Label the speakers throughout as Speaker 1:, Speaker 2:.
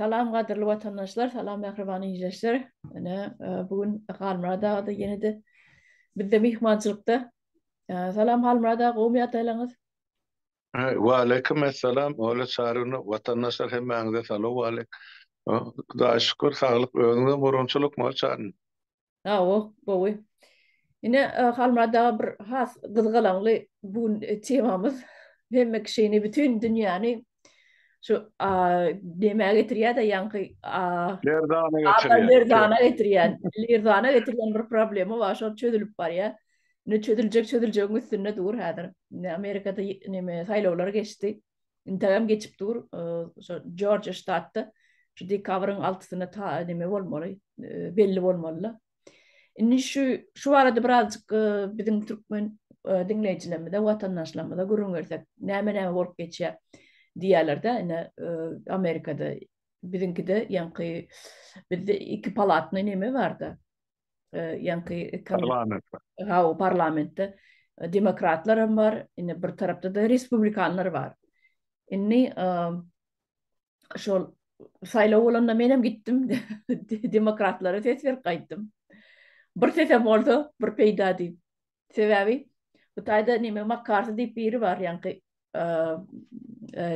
Speaker 1: Salam gadyrly watandaşlar, salam mähriban ildeşler. Ene bu gün Halmurad aga da ýene-de bizde myhmançylykda. Salam Halmurad aga, gowymy ýagdaýlaryňyz?
Speaker 2: Wa aleýkum assalam, Ola Çaryny watandaşlar hemmäňize salam aleýk. Hudaýa şükür, saglyk, özüňize gurunçylykmy Ola Çaryny? Hawa,
Speaker 1: gowy. Ine, Halmyrat aga bir has gyzgalaňly bu gün temamyz hemme kişini, bütin dünýäni şu nämä getirýär-de ýaňky Lerdana
Speaker 2: getirýär. Lerdana getirýär. Lerdana
Speaker 1: getirýän bir problema bar, şol çözülip barýar. Indi çözüljek çözüljegiň üstünde dur häzir. Amerikada neme saýlawlar geçdi. Integam geçip dur, şu Jorjiýa ştatda şu dekabryň altysyna ta neme bolmaly, belli bolmaly. Indi şu şu barada birazjyk biziň türkmen diňleýjilerimize, watandaşlarymyza gürrüň bersek, näme-näme bolup geçýär diýýärler-de, ine Amerikada, biziňkide ýaňky bizde iki palatny neme bar-da, ýaňky parlamentde.
Speaker 2: Ha, o
Speaker 1: parlamentde demokratlar hem bar, indi bir tarapda da respublikanlar bar. Indi şol saýlaw bolanda men hem gitdim, demokratlara ses berip gaýtdym. Bir sesem bolsa, bir peýda diýip. Sebäbi bu taýda neme Makarty diýip biri bar ýaňky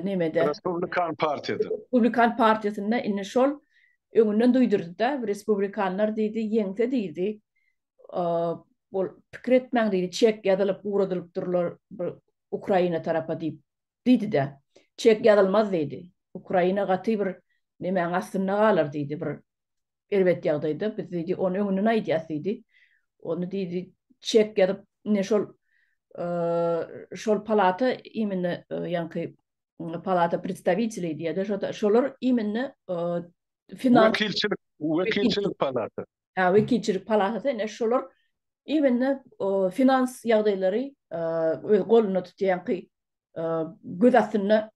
Speaker 1: nemede. Respublikan partiýada.
Speaker 2: Respublikan partiýasynda
Speaker 1: indi şol öňünden duýdurdy-da, respublikanlar diýdi, ýeňse diýdi, ol pikir etmäň diýdi, çek ýazylyp, ugradylyp durlar Ukraina tarapa diýip diýdi-de. Çek ýazylmaz diýdi. Ukraina gaty bir nemäň astynda galar diýdi, bir erbet ýagdaýda, biz diýdi, ony öňünden aýdýas diýdi. Ony diýdi, çek ýazyp, ine şol şol palata imine ýaňky palata predstawiteli diýýärdi, şo-da şolar imine finans wekilçilik
Speaker 2: wekilçilik palata. Hä, wekilçilik
Speaker 1: palatasy, ine şolar imine finans ýagdaýlary öz golunda tutýanky göz astynda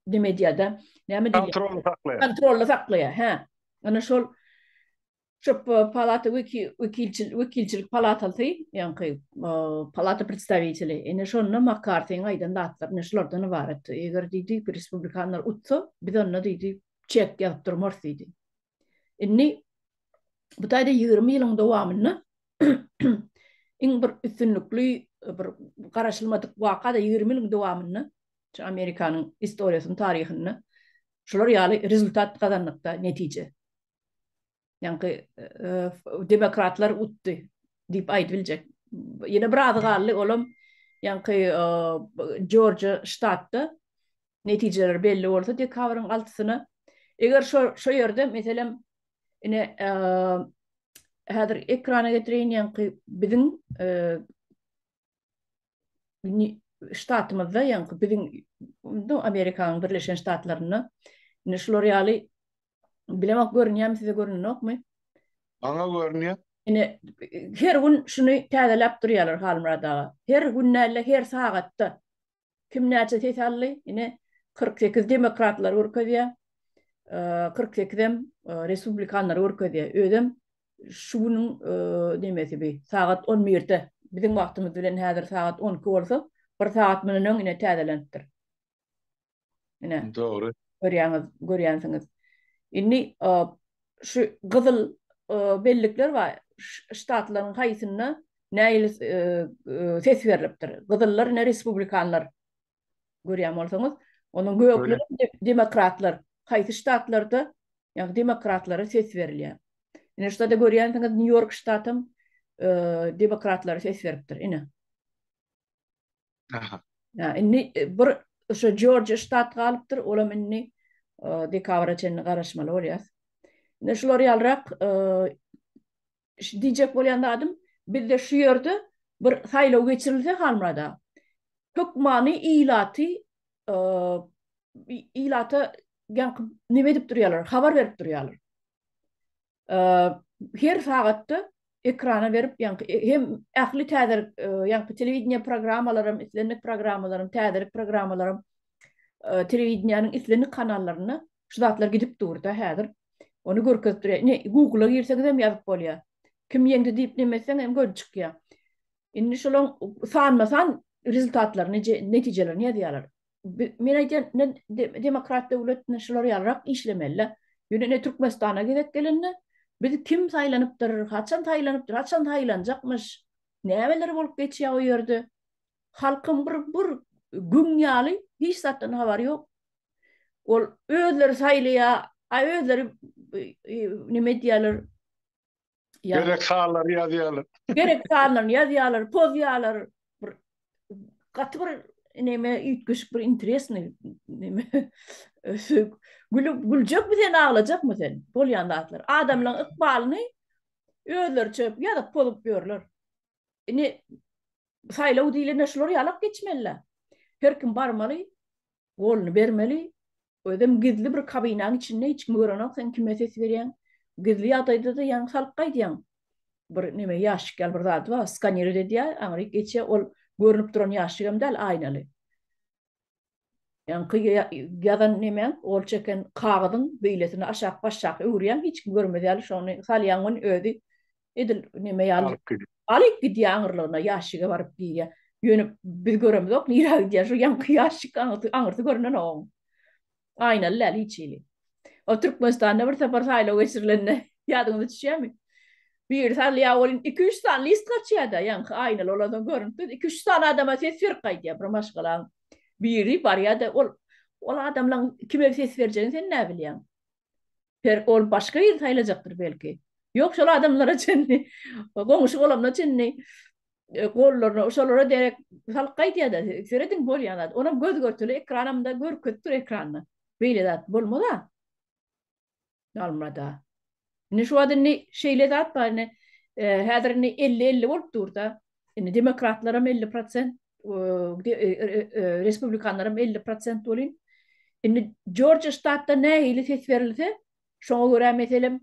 Speaker 1: neme diýýär-de, näme diýýär? Kontrolly saklaýar. Kontrolly saklaýar, hä. Ýöne şol şu palata weki wekilçilik wekilçilik palatasy, ýaňky palata predstawiteli. Ine şonda Makartiň aýdan zatlary ine şulardan ybarat. Eger diýdi, respublikanlar utsa, biz onda diýdi, çek ýazyp durmarys diýdi. Indi bu taýda ýigrimi ýylyň dowamynda iň bir üstünlikli bir garaşylmadyk waka-da ýigrimi ýylyň dowamynda şu Amerikanyň istoriýasynyň taryhynda şular ýaly rezultat gazandykda netije. Ýaňky demokratlar utdy diýip aýdyp biljek. Ýene bir azy galdy, olam ýaňky Jorjiýa ştatda netijeler belli bolsa dekabryň altysyna, eger şo şo ýerde meselem ine häzir ekrana getireýin ýaňky biziň ştatymyzda ýaňky biziň Amerikanyň Birleşen Ştatlarynda ine şular ýaly bilemok görünýärmi size görünenokmy? Maňa
Speaker 2: görünýär. Ine
Speaker 1: her gün şuny täzeläp durýarlar Halmyrat aga. Her gün näle her sagatda Kim näçe ses aldy? Ine, kyrk sekiz demokratlar görkezýär, kyrk sekizem respublikanlar görkezýär. Özem şu günüň nemesi bi, sagat on birde, biziň wagtymyz bilen häzir sagat on iki bolsa, bir sagat mundan öň ine täzelenipdir. Ine. Dogry.
Speaker 2: Görýäňiz, görýänsiňiz.
Speaker 1: Indi şu gyzyl bellikler bar. Ştatlaryň haýsynda näil ses berlipdir? Gyzyllar ine respublikanlar. Görýän bolsaňyz, onuň gökli demokratlar. Haýsy ştatlarda ýa demokratlara ses berilýär? Ine şu da görýänsiňiz Nýu-Ýork ştatam demokratlara ses beripdir. Ine.
Speaker 2: Aha. Ya indi e,
Speaker 1: bir şu Georgia ştat galypdyr, olam indi e, dekabra çenli garaşmaly bolýas. Indi şular ýalrak e, diýjek bolýan adym, bizde şu ýerde bir saýlaw geçirilse Halmyrada, hökmany ilaty e, ilata ýanky nime edip durýarlar, habar berip durýarlar. her sagatda ekrana berip ýaňky hem ähli täze ýaňky telewideniýe programmalaram islendik programmalaram täzelik programmalaram telewideniýäniň islendik kanallaryna şu zatlar gidip durda häzir ony görkezip durýar ine google girseňizem ýazyp bolýar kim ýeňdi diýip neme etseň hem görüp çykýar indi şolaň sanma san rezultatlaryny netijelerini ýazýarlar men aýdýan ne demokrat döwletinde şular ýalyrak işlemeli. Ýöne ne Türkmenistana gezek gelende biz kim saýlanypdyr, haçan saýlanypdyr, haçan saýlanjakmyş, nämeler bolup geçýär o ýerde. Halkyň bir bir gün ýaly hiç zatdan habary ýok. Ol özleri saýlaýar, aý özleri nime diýýärler,
Speaker 2: Gerek sanlary ýazýarlar. Gerek sanlaryny
Speaker 1: ýazýarlar, pozýarlar. Bir gaty bir neme üýtgeşik bir interesni neme ösük. Gülüp güljekmi sen aglajakmy sen? Bolýan zatlar. Adamlaryň ykbalyny özleriçe ýazyp pozup ýörler. Ine saýlaw diýlende şular ýalak geçmeli. Her kim barmaly, Golny bermeli, özem gizli bir kabinaň içinde hiç kim görenok sen kime ses berýäň. Gizli ýagdaýdada ýaňy salyp gaýdýaň. Bir neme ýaşyk ýaly bir zady bar skanirot edýär aňryk geçýär ol görnüp duran ýaşyk hem däl aýnaly. Ýaňky ýazan nemäň gol çeken kagyzyň beýlesini aşak başşak öwürýäň hiç kim görmez ýaly şony salýaň ony özi edil neme ýaly alyp gidýär aňyrlygyna ýaşige baryp diýýär ýöne biz göremizok nirä gidýär şu ýaňky ýaşik aňyrsy görünenok oň aýnaly däl hiç hili o türkmenistanda bir sapar saýlaw geçirilende ýadyňyza düşýärmi biri salýar welin iki üç sany list gaçýarda ýaňky aýnaly bolansoň görünip durdy iki üç sany adama ses berip gaýdýar bir maşgalaň biri barýarda ol ol adamlaň kime ses berjegini sen näbilýäň Per, ol başga ýer saýlajakdyr belki. Ýok, şol adamlara çenli, goňşy bolanyna çenli gollaryna, şolara derek salyk gaýdýar-da. Serediň, bolýan zat. Onam göz-görtele ekranam-da görkezip dur ekranda. Beýle zat bolmaz-a. Halmyrat-a. Indi şu wagt indi şeýle zat bar indi. Häzir indi elli-elli bolup dur-da. Indi demokratlaram elli prosent, respublikanlaram elli prosent welin, indi Jorjiýa ştatda nähili ses berilse, şoňa görä, meselem,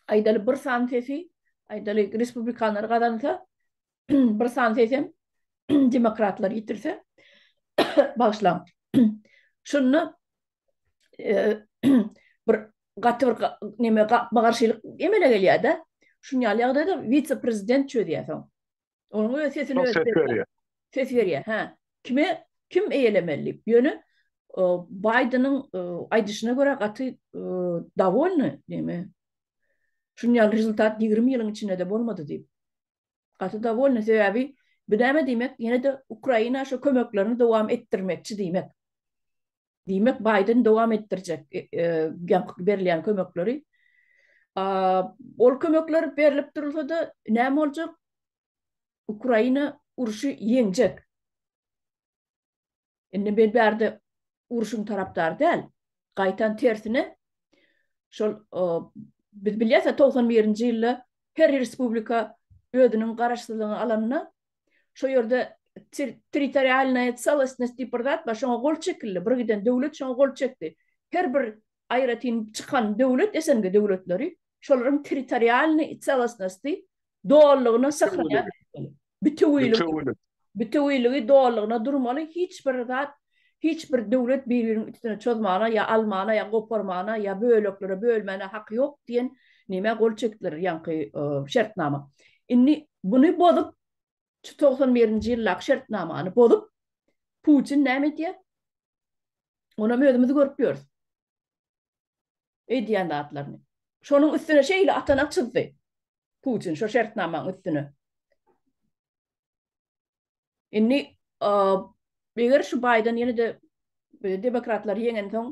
Speaker 1: aýdaly, bir san sesi, aýdaly, respublikanlar gazansa, bir san sesem demokratlar ýitirse, bagyşlaň, şunda bir gaty bir neme gapma garşylyk emele gelýär-de. Şuň ýaly ýagdaýda wise-prezident çözýär soň. Onuň öz sesini öz berýär. Ses berýär, hä. Kime kim eýelemeli diýip. Ýöne Baýdeniň aýdyşyna görä gaty dowolny neme. Şuň ýaly rezultat ýigrimi ýylyň içinde-de bolmady diýip. Gaty dowolny sebäbi bu näme diýmek ýene-de Ukraina şo kömeklerini dowam etdirmekçi diýmek. Diýmek Baýden dowam etdirjek ýaňky berilýän kömekleri. Ol kömekler berlip durulsada näme boljak? Ukraina urşy ýeňjek. Indi men bärde uruşyň tarapdary däl. Gaýtam tersine şol biz bilýäs-ä togsan birinji ýylda her respublika özüniň garaşsyzlygyny alanda şo ýerde territorialnaýa celostnost diýip bir zat bar, şoňa gol çekildi. Birgiden döwlet şoňa gol çekdi. Her bir aýratyn çykan döwlet, SNG döwletleri şolaryň territorialnyý celostnosty Dolulygyna syhraýan etmeli. Bütewilik. Bütewilik. Bütewiligi dolulygyna durmaly, hiç bir zat, hiç bir döwlet bir-biriniň üstüne çozmana ýa almana ýa goparmana ýa böleklere bölmäne haky ýok diýen nämä gol çekdiler ýaňky şertnama. Indi buny bozup, şu togsan birinji ýyldaky şertnamany bozup, Putin näme edýär? Onam özümiz görüp ýörüs. Eýdýän zatlaryny. Şonuň üstüne şeýle atana çyzdy. Putin şo şertnamaň üstüne. Indi eger şu Baýden ýene-de demokratlary ýeňensoň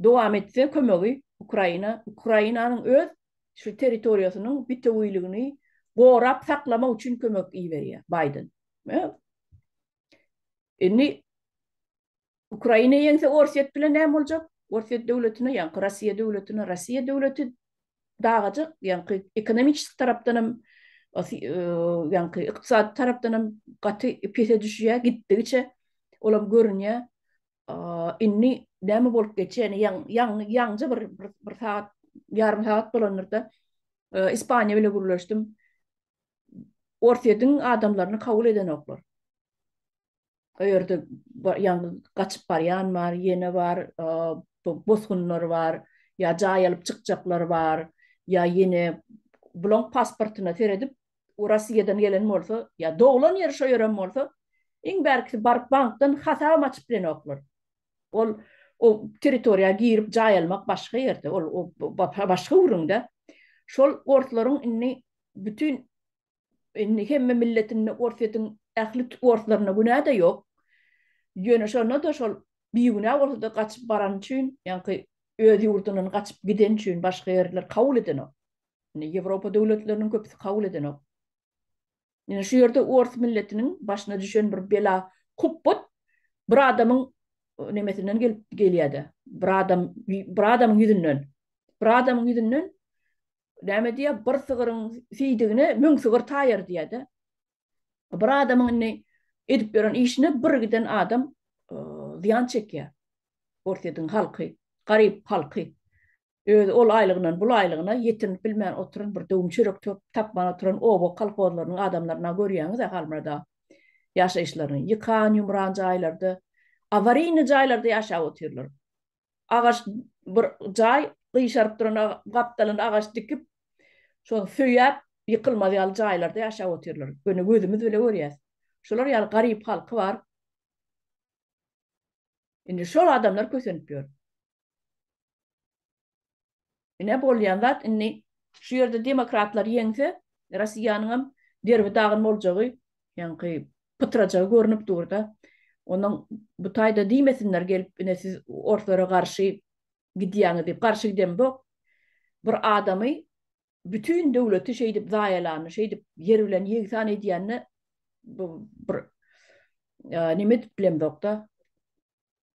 Speaker 1: dowam etse kömegi Ukraina, Ukrainanyň öz şu territoriýasynyň bitewiligini gorap saklamak üçin kömek iberýär Baýden. Indi Ukraina ýeňse Orsýet bilen näme boljak? Orsýet döwletine ýaňky Rossiýa döwletine Rossiýa döwleti dagajak ýaňky ekonomiçeski tarapdanam ýaňky ykdysady tarapdanam gaty pese düşýä gitdigiçe olam görünýä indi näme bolup geçýäni ýaňja bir bir sagat ýarym sagat bolandyrda Ispaniýa bile gürleşdim Orsýetiň adamlaryny kabul edenoklar. O ýerde ýaňy gaçyp barýan bar, ýene bar, bosgunlar bar, ýa jaý alyp çykjaklar bar, ýa ýene bulaň pasportyna seredip, o Rossiýadan gelen bolsa, ýa doglan ýeri şo ýer hem bolsa, iň bärkisi baryp bankdan hasabam açyp bilenoklar. Ol o territoriýa girip jaý almak başga ýerde, ol başga gürrüňde. Şol orslaryň indi bütin Indi hemme milletinde Orsýetiň ähli orslaryna günä-de ýok. Ýöne şonda-da şol bigünä bolsa-da gaçyp barany üçin, ýaňky öz ýurdundan gaçyp gideni üçin başga ýerler kabul edenok. Indi Ýewropa döwletleriniň köpüsi kabul edenok. Ýöne şu ýerde ors milletiniň başyna düşen bir bela hupbat bir adamyň nemesinden gelip gelýä-de, bir adam bir adamyň ýüzünden, bir adamyň ýüzünden näme diýýär, bir sygyryň siýdigine müň sygyr taýar diýýär-de. Bir adamyň indi edip ýören işine bir giden adam zyýan çekýär. Orsýetiň halky, garyp halky. Özi ol aýlygyndan bul aýlygyna ýetinip bilmän oturan bir döwüm çörek tapman oturan oba kolhozlarynyň adamlaryny-a görýäňiz-ä Halmyrad aga. Ýaşaýyşlaryny ýykan-ýumran jaýlarda, awaryny jaýlarda ýaşap otyrlar. agaç bir jaý gyşaryp duran gapdalynda agaç dikip şony söýäp ýykylmaz ýaly jaýlarda ýaşap otyrlar ýöne gözümiz bile görýäs şular ýaly garyp halky bar indi şol adamlar kösenip ýör. Ine bolýan zat indi şu ýerde demokratlar ýeňse Rossiýanyňam derbi dagyn boljagy ýaňky pytrajagy görnüp durda. Onuň bu taýda diýmesinler gelip ine siz orslara garşy gidýäňiz diýip garşy gidemzok. Bir adamy bütin döwleti şeýdip zaýalany şeýdip ýer bilen ýegsan edýänine bu bir nime diýip bilemzokda.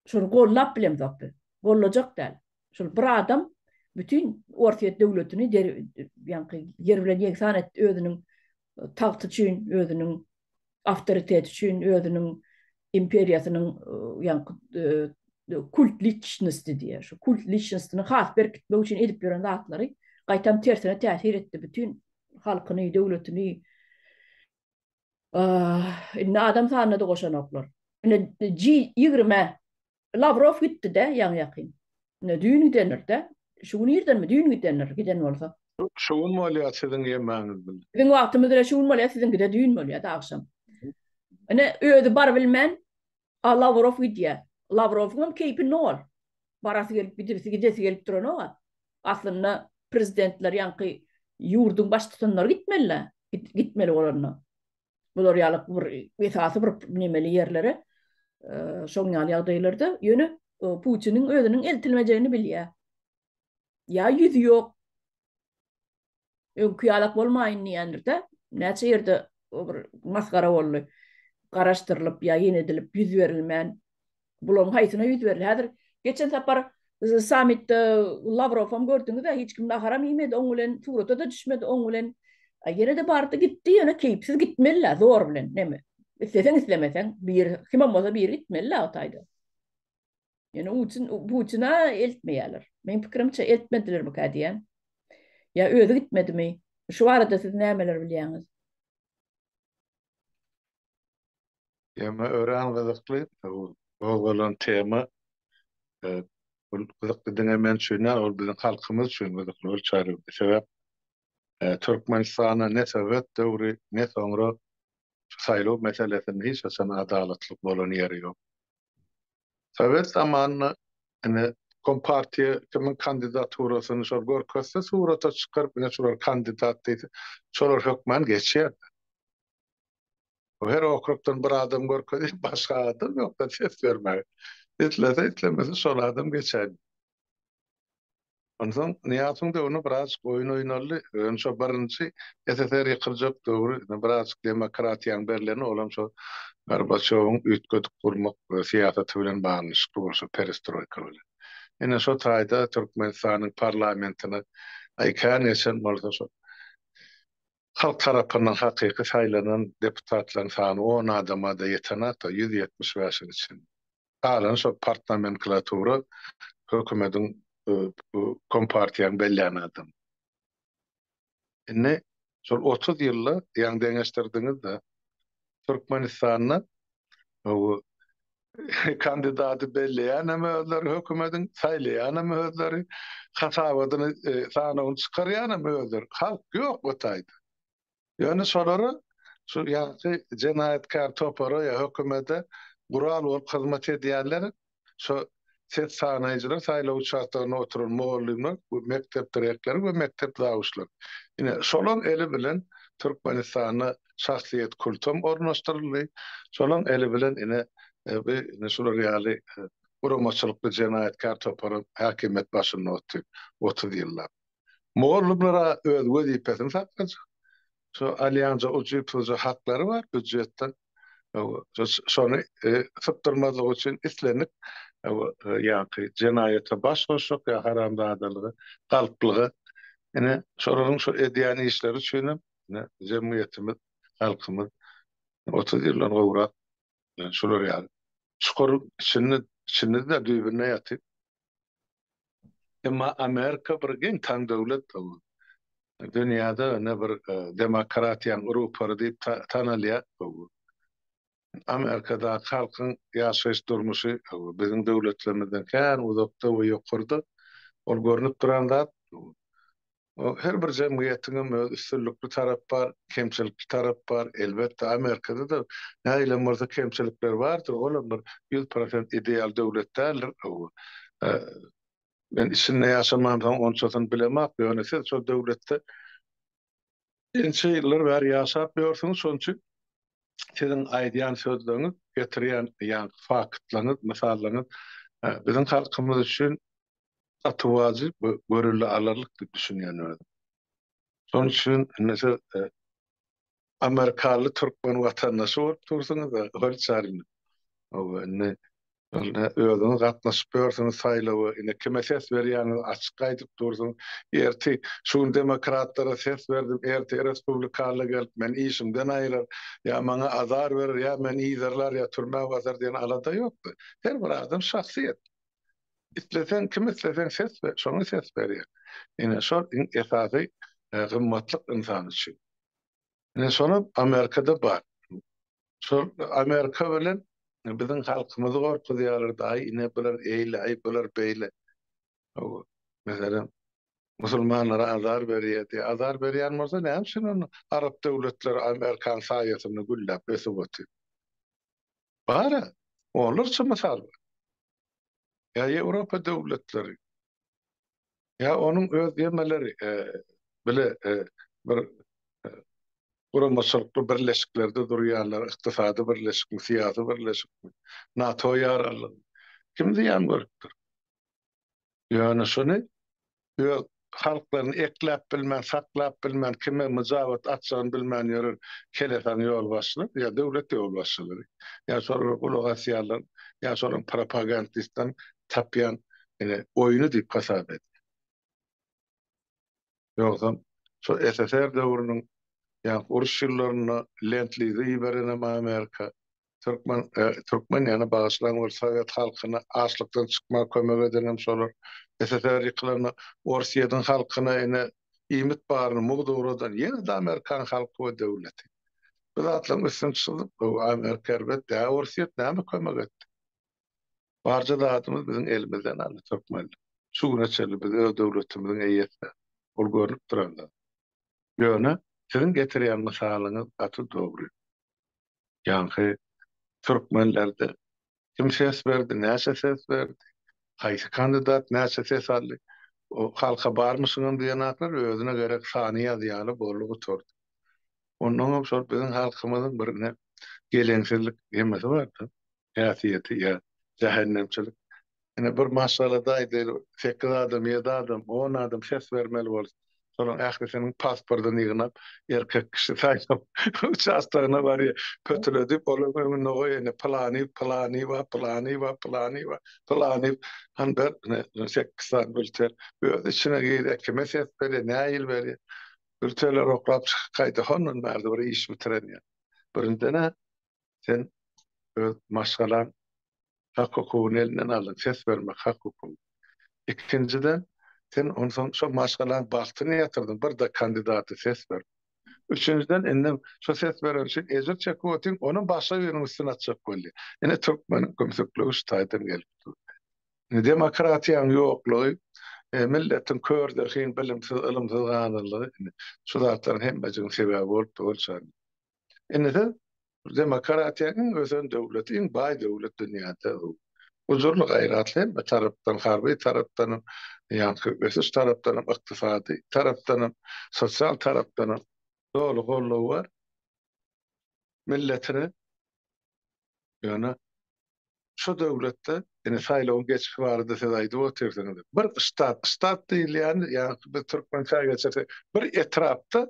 Speaker 1: Şuny gollap bilemzok biz. Gollajak däl. Şul bir adam bütin Orsýet döwletini ýaňky ýer bilen ýegsan etdi özüniň tagty üçin, özüniň awtoriteti üçin, özüniň imperiýasynyň ýaňky kult liçnosti diýýär. Şu kult liçnostini has berkitmek üçin edip ýören zatlary gaýtam tersine täsir etdi. Bütin halkyny, döwletini Indi adam sanyna-da goşanoklar. Ine, G20-ä Lawrow gitdi-de ýaňy-ýakyn. Ine, düýn gidendir-de. Şu gün irdenmi? Düýn gidendir, giden bolsa. Şu gün bolýar
Speaker 2: siziň ýemäňiz bilen. Biziň wagtymyz bilen şu gün
Speaker 1: bolýar, siziňki-de düýn bolýar-da agşam. Ine, özi barybilmän, A Lawrow gidýär. Lawrowyňam keýpi nol. Barasy gelip gidesi gidesi gelip duranok-a. Aslynda prezidentler ýaňky ýurduň baştutanlary gitmeli-dä. Gitmeli bolanda. Bular ýaly bir esasy bir nemeli ýerlere şoň ýaly ýagdaýlarda ýöne Putiniň özüniň eltilmejegini bilýär. Ýa ýüzi ýok, Öňki ýalak bolmaýyn diýendir-de, näçe ýerde bir masgara boldy. Garaşdyrylyp ýa ýene edilip ýüz berilmän. Bularyň haýsyna ýüz berilýär? Häzir geçen sapar sammitde Lawrowam gördüňiz-ä, hiç kim naharam iýmedi oň bilen, surata-da düşmedi oň bilen. A ýene-de bardy gitdi, ýöne keýpsiz gitmeli-ä, zor bilen, näme. Isleseň-islemeseň, biri, kimem bolsa biri gitmeli-ä o taýda. Yani ucun, bucuna eltmeýärler. Men pikirimçe eltmediler mi diýen. Ya özü gitmedi mi? Şu arada siz nämeler bilýäňiz?
Speaker 2: Tema örän gyzykly. Gozgalan tema e, bu gyzykly diňe men üçin däl, ol biziň halkymyz üçin gyzykly bolup çaýyldy. Sebäp e, Türkmenistana ne sowet döwri, ne soňra şu saýlaw meselesinde hiç haçan adalatlyk bolan ýeri ýok. Sowet zamanynda ine kompartiýa kimiň kandidaturasyny şol görkezse surata çykaryp ine şular kandidat diýse şolar hökman geçýärdi. Her okrugdan bir adam görkezip başga adam ýokda ses bermäge. Islese islemese şol adam geçäýdi. Onsoň Nyýasowyň döwründe birazajyk oýun oýnaldy. Ýöne şo birinji SSR ýykyljak döwri birazajyk demokratiýanyň berleni, olam şo Gorbaçýowyň üýtgedip gurmak syýasaty bilen baglanyşykly boldy, şo perestroýka bilen. Ine, şo taýda Türkmenistanyň parlamentine kän geçen bolsa, şo halk tarapyndan hakyky saýlanan deputatlaryň sany on adama-da ýetenok-da, ýüz ýetmiş bäşiň içinde. Galan şo partnomenklatura hökümediň bu kompartiýaň bellän adamy. Indi şol otuz ýylda ýaňy deňeşdirdiňizde Türkmenistanda bu kandidady belleýänem özleri hökümediň saýlaýanem özleri hasabadyny sanawyny çykarýanem özleri halk ýok o taýda. Ýöne şolary şu ýaňky jenaýatkär topara ýa hökümete gural bolup hyzmat edýänler şo ses sanaýjylar, saýlaw uçastogynda oturan mugallymlar we mekdep direktory we mekdep zawuçlary. Ine, şolaň eli bilen Türkmenistanda şahsyýet kultam ornaşdyryldy. Şolaň eli bilen ine bi ine şular ýaly guramaçylykly jenaýatkär toparam häkimiýet başynda otyrdy otuz ýyllap. Mugallymlar-a öz wezipesini saklajak. Şu alýanja ujypsyzja haklary bar býudjetden. Şony sypdyrmazlyk üçin islendik ýaňky jenaýata baş goşjak ýa haramzadalyga, galplyga. Ine, şolaryň şu edýän işleri üçinem ine jemgyýetimiz, halkymyz otuz ýyldan gowrak şular ýaly çukuryň içinde içinde-de düýbünde ýatyp, Emma Amerika bir geň taň döwlet bul. Dünýäde ine bir demokratiýaň rupary diýip tanalýar bul. Amerikadaky halkyň ýaşaýyş durmuşy biziň döwletlerimizden kän uzakda we ýokarda. Ol görnüp duran zat bul. Her bir jemgyýetiňem öz üstünlikli tarap bar, kemçilikli tarap bar. Elbetde, Amerikada-da nähilem bolsa kemçilikler bardyr, olam bir ýüz prosent ideal döwlet däldir. Men içinde ýaşamamsoň onçasyny bilemok, ýöne siz şol döwletde ençe ýyllar bäri ýaşap ýörsüňiz, şonuň üçin siziň aýdýan sözleriňiz, getirýän ýaňky faktlaryňyz, mysallaryňyz biziň halkymyz üçin gaty wajyp we görüle alarlyk diýip düşünýän özüm. Şonuň üçin indi siz amerikaly türkmen watandaşy bolup dursuňyz, hol çaryny indi özüňiz gatnaşyp ýörsüňiz saýlawa, indi kime ses berýäňizi açyk aýdyp dursuňyz. Ertir şu gün demokratlara ses berdim, ertir respublikalylar gelip meni işimden aýyrar, ýa maňa azar berer, ýa meni yzarlar, ýa türmä basar diýen alada ýokdy. Her bir adam şahsyýet. Isleseň kim isleseň ses ber, şoňa ses berýär. Ine şol iň esasy gymmatlyk ynsan üçin. Ine şonam Amerikada bar. Şol Amerika bilen biziň halkymyzy gorkuzýarlardy, aý ine bular eýle, aý bular beýle. Meselem, musulmanlara azar berýärdi. Azar berýän bolsa näme üçin onda arap döwletleri Amerikanyň saýasynda gülläp ösüp otyr. Bar-a, onlarça mysal bar. Ýa Ýewropa döwletleri, ýa onuň öz gemeleri bile bir guramaçylykly birleşiklerde durýanlar, ykdysady birleşikmi, syýasy birleşikmi, NATO ýaraglygymy, kim zyýan görüpdir? Ýöne şuny öz halklaryny ekläp bilmän, saklap bilmän, kime myjabat atjagyny bilmän ýören helesaň ýolbaşçylary ýa döwlet ýolbaşçylary, ýa şolara gulak asýanlar, ýa şolaryň propagandistleriň tapýan ine oýny diýip hasap edýän. Ýogsam, şo SSR döwrüniň ýaňky uruş ýyllarynda Lend-Lizi iberenem Amerika, türkmen, türkmen ýany bagyşlaň bir sowet halkyna açlykdan çykmaga kömek edenem şolar. SSR ýykylanda Orsýetiň halkyna ine iýmit baryny mugt ugradan ýene-de amerikan halky we döwleti. Bu zatlaryň üstüni çyzyp, bu Amerika erbet dä, Orsýet näme kömek etdi? Barja zadymyz biziň elimizden aldy türkmenler. Şu güne çenli biz öz döwletimiziň eýesidiris. Bul görnüp duran zat. Ýöne siziň getirýän mysalyňyz gaty dogry. Ýaňky türkmenlerde kim ses berdi, näçe ses berdi, haýsy kandidat näçe ses aldy, o halka barmyşyňam diýen zatlar özüne gerek sany ýazýaly boldy gutardy. Onnoňam şol biziň halkymyzyň birine geleňsizlik hemmesi bar-da. häsiýeti ýa jähennemçilik. Ine bir maşgalada aýdaýly sekiz adam, ýedi adam, on adam ses bermeli bolsa, şolaryň ählisiniň pasportyny ýygnap, erkek kişi saýlaw uçastogyna barýar. Pötüledip olaryň öňünde goýýar, ine pylany, pylanyba, pylanyba, pylanyba, pylany han ber, ine sekiz sany bülten. Öz içine girýär, kime ses berýär, nähili berýär. Bültenleri oklap çykyp gaýdyp hondan bärde bir iş bitiren ýok. Birinjiden-ä sen öz maşgalaň hak hukugyny elinden aldyň, ses bermek hak hukugy. Ikinjiden, sen onsoň şo maşgalaň bagtyny ýatyrdyň, birde kandidata ses berip. Üçünjiden, indi şo ses beren üçin ejir çekip otyň, ony başga biriniň üstüne atjak boldy. Ine, türkmeniň kümsükligi şu taýdan gelip dur. Indi demokratiýaň ýoklugy, milletiň kör, zehin, bilimsiz, ylymsyz galanlygy, indi şu zatlaryň hemmejiginiň sebäbi bolup dur, Ol şa. Indi siz demokratiýa iň ösen döwlet, iň baý döwlet dünýäde. Gujurly gaýratly hemme tarapdan, harby tarapdanam, ýaňky ösüş tarapdanam, ykdysady tarapdanam, sosial tarapdanam doly goldawy bar milletine. Ýöne şu döwletde, indi saýlawyň geçişi barada siz aýdyp otyrsyňyz, bir ştat, ştat diýilýäni, ýagny biz türkmençä geçirsek, bir etrapda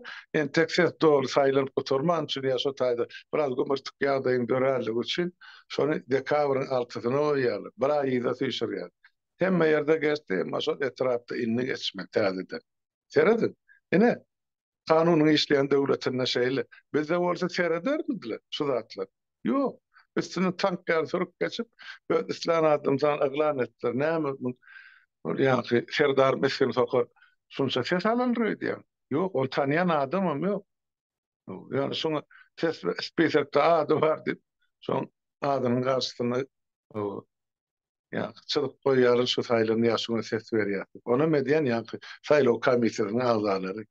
Speaker 2: entek ses doly saýlanyp gutarman üçin ýa şo taýda biraz gümürtik ýagdaýyň döränligi üçin şony dekabryň altysyna goýýarlar, bir aý yza süýşürýärler. Hemme ýerde geçdi, emma şol etrapda indi geçmeli täzeden. Serediň. Ine, kanunyň işleýän döwletinde şeýle. Bizde bolsa seredermidler şu zatlar? Ýok. Üstünden tank ýaly sürüp geçip, öz islän adamsan yglan etdiler. Näme muň ol ýaňky Serdar mesgen soka şunça ses alandyr öýdýäň? Ýok, ony tanýan adamam ýok. Ýöne şuňa ses spisekde ady bar diýip, şoň adynyň garşysyna Ýaňky çyzyp goýýaryn şu saýlan ýaşuňa ses berýär diýip. Onam edýän ýaňky saýlaw komissiýasynyň agzalary.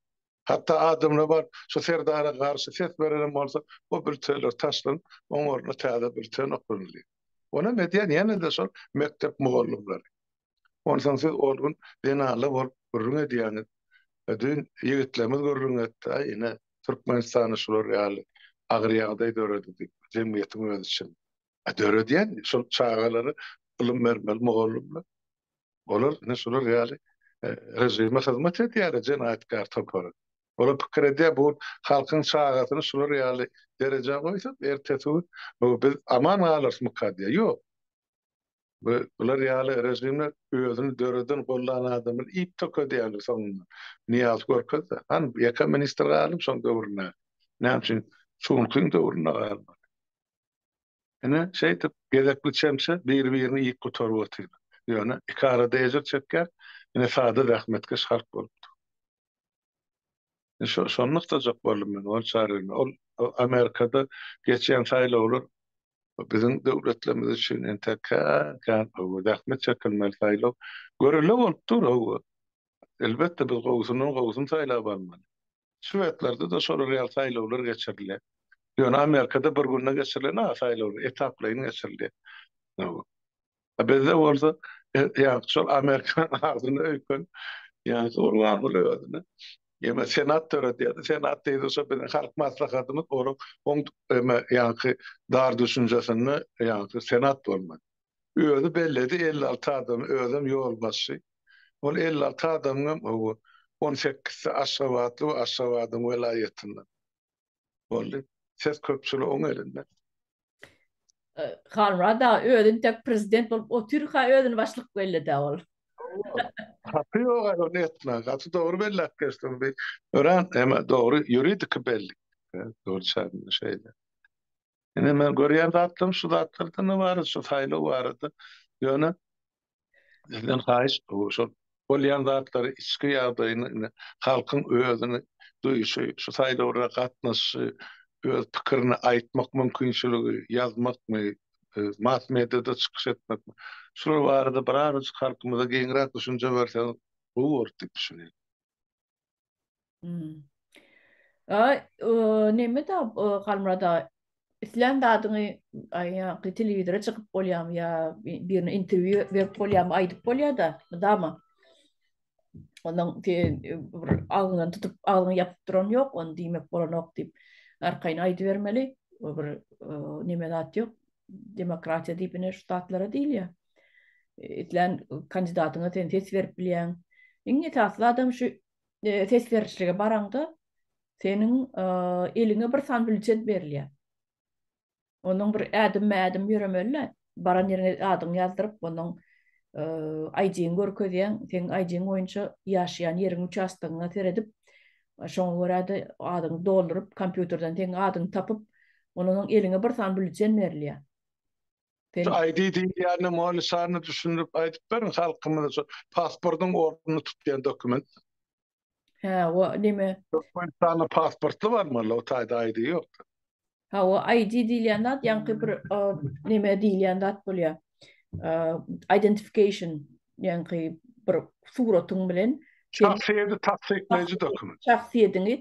Speaker 2: Hatda adamlar bar, şu Serdara garşy ses berenem bolsa, o bültenler taşlanyp, oň ornuna täze bülten oklanylýar. Onam edýän ýene-de şol mekdep mugallymlary. Onsoň siz ol gün zenanlar bolup gürrüň edýäňiz. Düýn ýigitlerimiz gürrüň etdi, Aý, ine, Türkmenistanda şular ýaly agyr ýagdaý döredi diýip, jemgyýetiň özi üçin. Döredýän şol çagalara ylym bermeli mugallymlar. Olar ine şular ýaly režime hyzmat edýärler jenaýatkär topary. Olar pikir edýär bu halkyň çagasyny şular ýaly derejä goýsak ertesi gün bu biz aman galarysmyka diýýär. Ýok. Bu bular ýaly režimler özüni döreden gollan adamyny iýip tökedýärler soňunda. Nyýaz görkezdi. Han ýeke ministr galdy şoň döwründäki. Näme üçin Çunkyň döwründe galmady. Ine, şeýdip, gezekli çemçe bir-birini iýip gutaryp otyr. Ýöne, iki arada ejir çekýän ine sada zähmetkeş halk bolupdyr. Şo, şony nygtajak boldum men, ol çaryny. Ol Amerikada geçýän saýlawlar biziň döwletlerimiz üçin entek kän-kän gowy, zähmet çekilmeli saýlaw. Görelde bolup dur, hawa. Elbetde, biz gowusyndan gowusyny saýlap almaly. Şwetlerde-de şolar ýaly saýlawlar geçirilýär. Ýöne Amerikada bir günde geçirilen-a saýlawlar, etaplaýyn geçirilýär. A bizde bolsa, ýa-ni şol Amerikanyň agzyna öýken, ýa-ni Gurbanguly özüne ýa-ni Senat döredýär-de, Senat diýdi, şo biziň Halk Maslahatymyz onuň oň, ýa-ni dar düşünjesinde, ýa-ni Senat bolmady. Özi belledi, elli alty adamy, özem ýolbaşçy. Ol elli alty adamyňam, hawa, on sekizsi aşgabatly we Aşgabadyň welaýatyndan. Boldy. Ses köpçülik oň elinde.
Speaker 1: Halmyrat aga, özi intek prezident bolup otyrka özüni başlyk belledi-ä ol.
Speaker 2: Hawa. Haky ýog-a ony etmäge. Gaty dogry belläp geçdiň. Bi örän hem dogry ýuridiki bellik. Dogry çagynda şeýle. Ine men görýän zatlarym şu zatlardan ybarat şu saýlaw barada. Ýöne sizden haýyş şol bolýan zatlary içki ýagdaýyny indi halkyň özüni duýuşy şu saýlawlara gatnaşyşy öz pikirini aýtmak mümkinçiligi ýazmakmy mass mediada çykyş etmekmi şular barada birazajyk halkymyza giňräk düşünje berseňiz gowy bolar diýip düşünýän.
Speaker 1: Ay, neme da Halmura da islän zadyňy aýaňky telewizora çykyp bolýarmy ýa birine interwýu berip bolýarmy, aýdyp bolýar-da, mydama. Ondan sen agzyňdan tutup, agzyňy ýapyp duran ýok, ony diýmek bolanok diýip, arkaýyn aýdybermeli. Bir neme zat ýok. demokratiýa diýip ine şu zatlara diýilýär. Islän kandidatyňa sen ses berip bilýäň. Iň esasy zadam şu e, ses berişlige baraňda seniň e, eliňe bir san bülçet berilýär. Onuň bir ädim-ädim ýöremeli. Baran ýeriňe adyňy ýazdyryp, onuň e, ID-ni görkezýäň, seň ID-ň boýunça ýaşaýan ýeriň uçastogyňa seredip, Şoňa görä-de, adyňy dolduryp, kompýuterden seň adyňy tapyp, ondan soň eliňe bir sany büllejen berilýär. Sen
Speaker 2: Şu ID diýilýänem ony şany düşündirip aýdyp beriň halkymyza şu pasportyň ornuny tutýan dokument. Hä,
Speaker 1: o neme? Türkmenistanda
Speaker 2: pasportly barmy ol o taýda ID ýok. Hawa,
Speaker 1: ID diýilýän zat ýaňky bir neme diýilýän zat bolýar. Identification ýaňky bir suratyň bilen şahsyýeti tassyklaýjy
Speaker 2: dokument.
Speaker 1: Şahsyýetiňi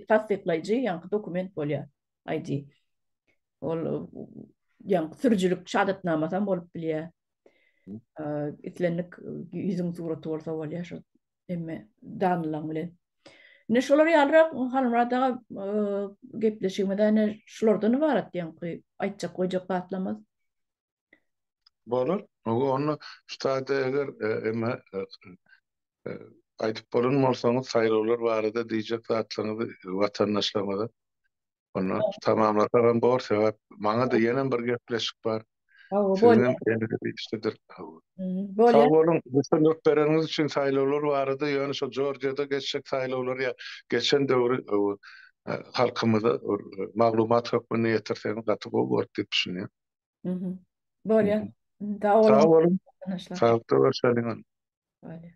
Speaker 1: tassyklaýjy ýaňky
Speaker 2: dokument
Speaker 1: bolýar ID. Ol ýaňky sürüjilik şahadatnamasy hem bolup bilýär. Islendik ýüzüň suraty bolsa bolýar şol emme danlaň bilen. Ine şolar ýalyrak Halmyrat aga gepleşigimiz ene şulardan ybarat ýaňky aýtjak goýjak zatlarymyz. Bolar.
Speaker 2: Onda şu taýda eger emme aýdyp bolan bolsaňyz saýlawlar barada diýjek zatlaryňyzy watandaşlarymyza Onda tamamlasagam bor, sebäp maňa-da ýenem bir gepleşik bar. Hawa, bolýar. Bolýar. Sag boluň, düşündirip
Speaker 1: bereniňiz
Speaker 2: üçin saýlawlar barada, ýöne şo Jorjiýada geçjek saýlawlar ýa geçen döwri halkymyza maglumat hökmünde ýetirseňiz gaty gowy bolardy diýip düşünýän.
Speaker 1: Bolýar.
Speaker 2: Sag
Speaker 1: boluň.
Speaker 2: Saglyk-sag
Speaker 1: boluň. Bolýar.